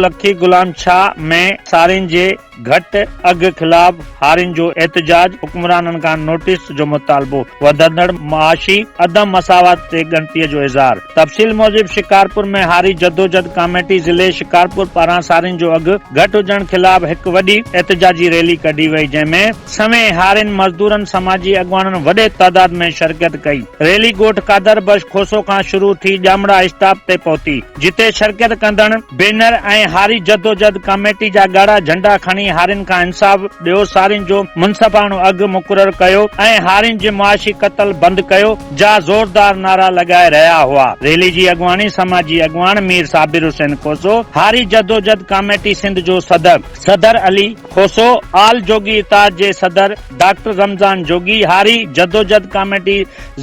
لکي غلام شاهه ۾ سارين جي گهٽ اگهه خلاف هارين جو احتجاج، حڪمرانن کان نوٽيس جو مطالبو، وڌندڙ معاشي عدم مساوات تي ڳڻتي جو اظهار. تفصيل موجب شڪارپور ۾ هاري جدوجھد ڪاميٽي ضلعي شڪارپور پاران سارين جو اگهه گهٽ هجڻ خلاف هڪ وڏي احتجاجي ريلي ڪڍي وئي جنهن ۾ سوين هارين مزدورن سماجي اڳواڻن وڏي تعداد ۾ شرڪت ڪئي ريلي ڳوٺ قادر بخش کوسو کان شروع ٿي ڄامڙا اسٽاپ تي پهتي. جتي شرڪت ڪندڙن بينر ۽ هاري جدوجھد ڪاميٽي جا ڳاڙها جھنڊا کڻي هارين کان انصاف ڏيو سارين جو منصفاڻو اگھ مقرر ڪيو ۽ هارين جي معاشي قتل بند ڪيو جا زوردار نعرا لڳائي رهيا هئا ريلي جي اڳواڻي سماجي اڳواڻ مير صابر حسين کوسو هاري جدوجھد ڪاميٽي سنڌ جو صدر صدر علي کوسو آل جوڳي اتحاد جي صدر ڊاڪٽر رمضان جوڳي هاري جدوجھد ڪاميٽي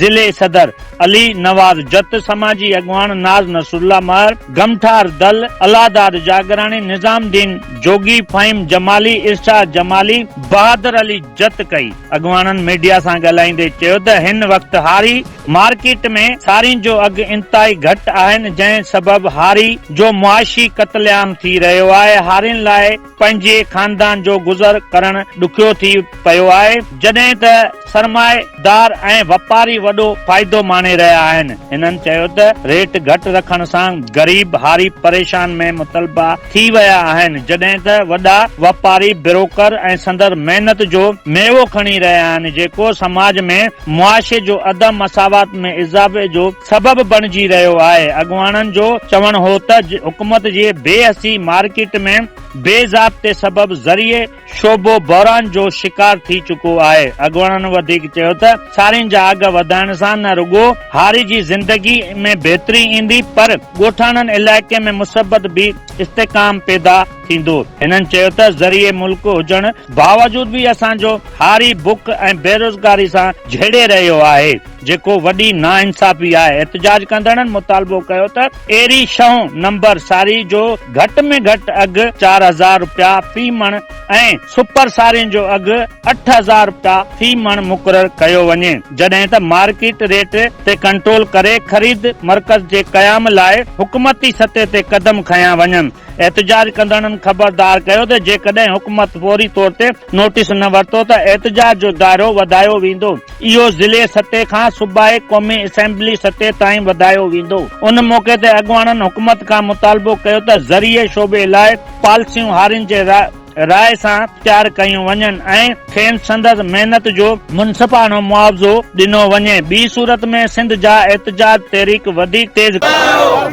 ضلعي صدر. علي نواز جت، سماجي اڳواڻ ناز نصرالله مهر، گمٺار دل، الله داد جاگراڻي، نظام الدين جوڳي، فهيم جمالي، ارشاد جمالي، بهادر علي جت ڪئي. اڳواڻن ميڊيا سان ڳالهائيندي چيو ته هن وقت هاري مارڪيٽ ۾ سارين جو اگهه انتهائي گهٽ آهن جنهن سبب هاري جو معاشي قتل عام ٿي رهيو آهي هارين لاء پنهنجي خاندان جو گذر ڪرڻ ڏکيو ٿي پيو آهي، جڏهن ته سرمائي دار ۽ واپاري وڏو فائدو ماڻي رهيا آهن. هنن چيو ته ريٽ گهٽ رکڻ سان غريب هاري پريشان ۾ مطلبا ٿي ويا آهن، جڏهن ته وڏا واپاري بروڪر ۽ سندر محنت جو ميوو کڻي رهيا آهن، جيڪو سماج ۾ معاشي جو عدم مساوات ۾ اضافي جو سبب بڻجي رهيو آهي، اڳواڻن جو چوڻ هو ته حڪومت جي بي حسي مارڪيٽ ۾ بي ضابطي سبب زرعي شعبو بحران جو شڪار ٿي چڪو آهي، اڳواڻن وڌيڪ چيو ته سارين جا اگهه وڌائڻ سان نه رڳو هاري جي زندگي ۾ بهتري ايندي پر ڳوٺاڻن علائقي ۾ مثبت به استحڪام پيدا ٿيندو، هنن چيو ته زرعي ملڪ هجڻ باوجود به اسان جو هاري بک ۽ بيروزگاري سان جهيڙي رهيو آهي. جيڪو وڏي ناانصافي آهي، احتجاج ڪندڙن مطالبو ڪيو ته ايري شھون نمبر ساري جو گهٽ ۾ گهٽ اگهه چار هزار رپيا في مڻ ۽ سپر سارين جو اگهه اٺ هزار رپيا في مڻ مقرر ڪيو وڃي جڏهن ته مارڪيٽ ريٽ تي ڪنٽرول ڪري خريد مرڪز جي قيام لاء حڪومتي سطح تي قدم کنيا وڃن احتجاج ڪندڙن خبردار ڪيو ته جيڪڏهن حڪومت فوري طور تي نوٽيس نه ورتو ته احتجاج جو دائرو وڌايو ويندو. اهو ضلعي سطح کان صوبائي قومي اسيمبلي سطح تائين وڌايو ويندو. ان موقعي تي اڳواڻن حڪومت کان مطالبو ڪيو ته زرعي شعبي لاء پالسيون هارين جي راء راء سان تيار ڪيون وڃن ۽ کين سندس محنت جو منصفاڻو معاوضو ڏنو وڃي ٻي صورت ۾ سنڌ جا احتجاج تحريڪ وڌيڪ تيز ڪنداسين.